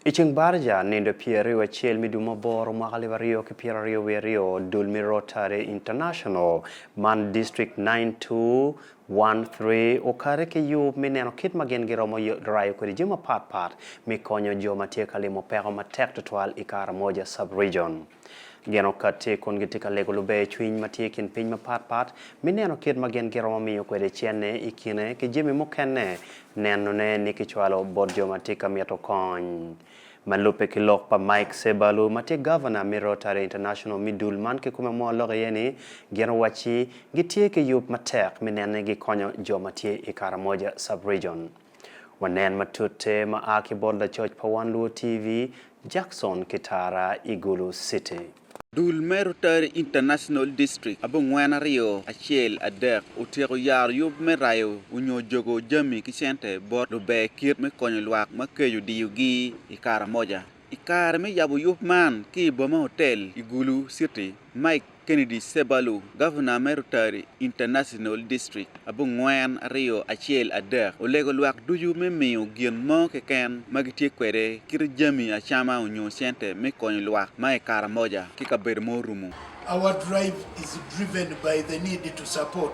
I ceng Baraja, nindo pyer aryo acel me dwe ma aboro mwaka alib aryo ki pyera aryo wiye aryo, dul me Rotary International, man District nine two one three okare ki yub me neno kit ma gin giromo rayo kwede jami mapat pat me konyo jo ma tye ka limo peko matek tutwal i Karamoja Sub-Region. Gin okatti kun gitye ka lego lubercwiny ma tye i kin piny mapat pat me neno kit ma gin giromo miyo kwede cente i kine ki jami mukene, nenone ni kicwalo bot jo ma tye ka mito kony. Ma lubbe ki lok pa Mike Sebalu ma tye Gavana me Rotary International me dul man kikome mo lok iye ni gin owacci gitye ki yub matek me nene gikonyo jo ma tye i Karamoja Sub-Region. Wanen matute ma a ki bot lacoc pa Wan Luo TV, Jackson Kitara i Gulu City. Dul me Rotary International District abongwen aryo acel adek otyeko yaro yub me rayo onyo jogo jami ki cente bot luber kit me konyo lwak ma keco diyogi i Karamoja. I kare me yabo yub man ki i boma hotel i Gulu City, Mike Kennedy Sebalu, Gavana me Rotary International District abongwen aryo acel adek, olego lwak ducu me miyo gin mo keken ma gitye kwede kite jami acama onyo cente me konyo lwak ma i Karamoja ki kabedo ma orumo. Our drive is driven by the need to support.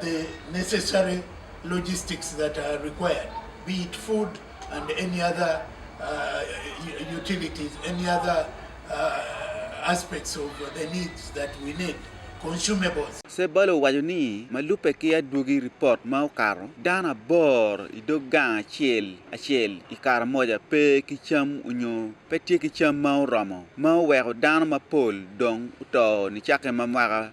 the necessary logistics that are required be it food and any other utilities, any other aspects of the needs that we need, consumables. Sebbala owaco ni, ma lubbe ki adwogi ripot ma okato, dano aboro i dog gang acel acel i Karamoja pe ki cam onyo pe tye ki cam ma oromo, ma oweko dano mapol dong oto nicakke ma mwaka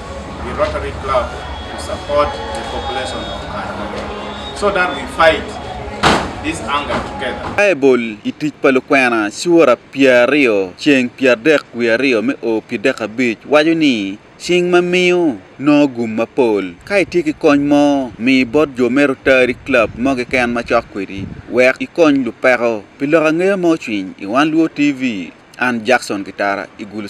i Rotary Club to support the population of Kanyamega so that we fight this hunger together. Baibul i Tic pa Lukwena cura pyeraryo ceng pyeradek wiye aryo me o pi dek abic waco ni, Cing ma miyo, nongo gum mapol. Ka itye ki kony mo, mi bot jo me Rotary Club mo keken ma cok kwedi wek ikony lupeko. Pi lok angeya ma ocwiny i Wan Luo TV, an Jackson Gitara i Gulu.